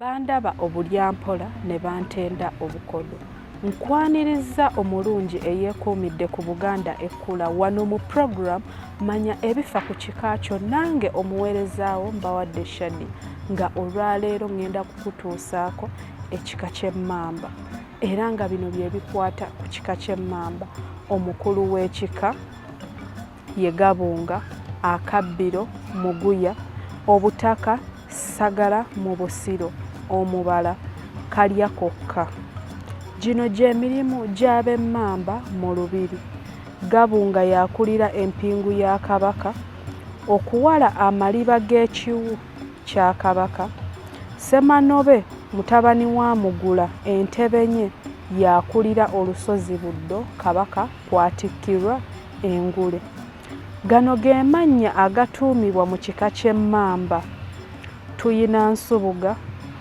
Bandaba obulyampola ne bantenda obukodo. Nkwanirizza omulungi eyeekuumidde ku Buganda Ekkula wano mu program manya ebifa ku kika kyo nange omuweerezaawo mbawadde shadi nga olwaleero ŋŋenda kukutuusaako ekika ky'emmamba era nga bino bye bikwata ku kika ky'emmamba omukulu w'ekika ye Gabunga, Akabbiro, Muguya, Obutaka, Ssagala mu Busiro, Omubala, Kalyakokka. Gino gye mirimu gy'ab'Emmamba mu Lubiri. Gabunga y'akulira empingu ya Kabaka, okuwala amaliba g'ekiwu kya Kabaka. Ssemanobe mutabani wa Mugula Entebenye y'akulira olusozi Buddo Kabaka kw'atikkirwa engule. Gano ge mannya agatuumibwa mu kika ky'emmamba, Tuyinansubuga,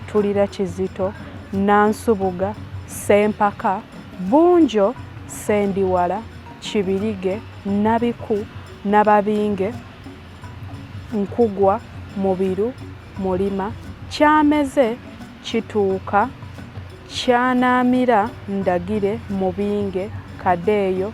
Tulirakizito, Nansubuga, Ssempaka, Bunjo, Ssendiwala, Kibirige, Nabiku, Nababinge, Nkugwa, Mubiru, Mulima, Kyameze, Kituuka, Kyanaamira, Ndagire, Mubinge, Kadeeyo,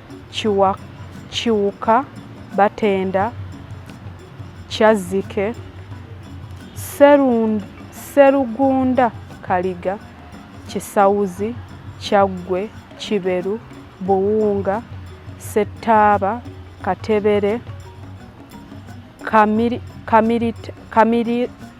Kiwa, Kiwuka, Batenda, Kyazzike, Serund, Serugunda, Kaliga, Kisawuzi, Kyaggwe, Kiberu, Buwunga, Settaaba, Katebere, Kamiri, Kamiri, Kamiri,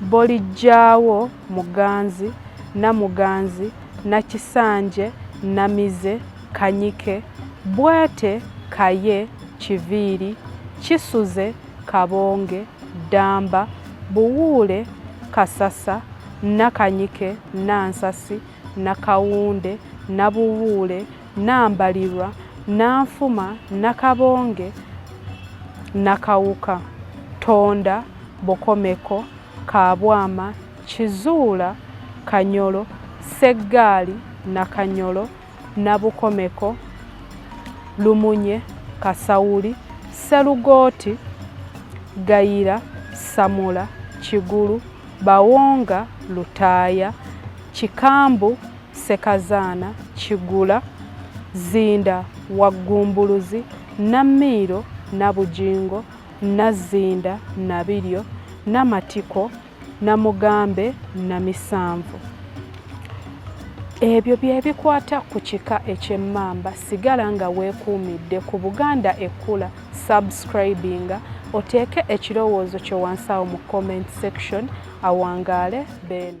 Bolijjaawo Muganzi, Namuganzi, Nakisanje, Namize, Kanyike, Bwete, Kaye, Kiviiri, Kisuze, Kabonge, Ddamba, Buwuule, Kasasa, Nakanyike, Nansasi, Nakawunde, Nabuwuule, Nambalirwa, Nanfuma, Nakabonge, Nakawuka, Tonda, Bokomeko, Kabwama, Kizuula, Kanyolo, Sseggaali, Nakanyolo, Nabukomeko, Lumunye, Kasawuli, Sserugooti, Gayira, Samula, Kigulu, Bawonga, Lutaaya, Kikambu, Ssekazaana, Kigula, Zzinda, Waggumbuluzi, Nammiiro, Nabugingo, Nazzinda, Nabiryo, Namatiko, Namugambe, Namisanvu. Ebyo bye bikwata ku kika eky'emmamba. Sigala nga weekuumidde ku Buganda Ekkula, subscribinga oteeke ekirowoozo kyo wansi awo mu comment section. Awangaale Beene.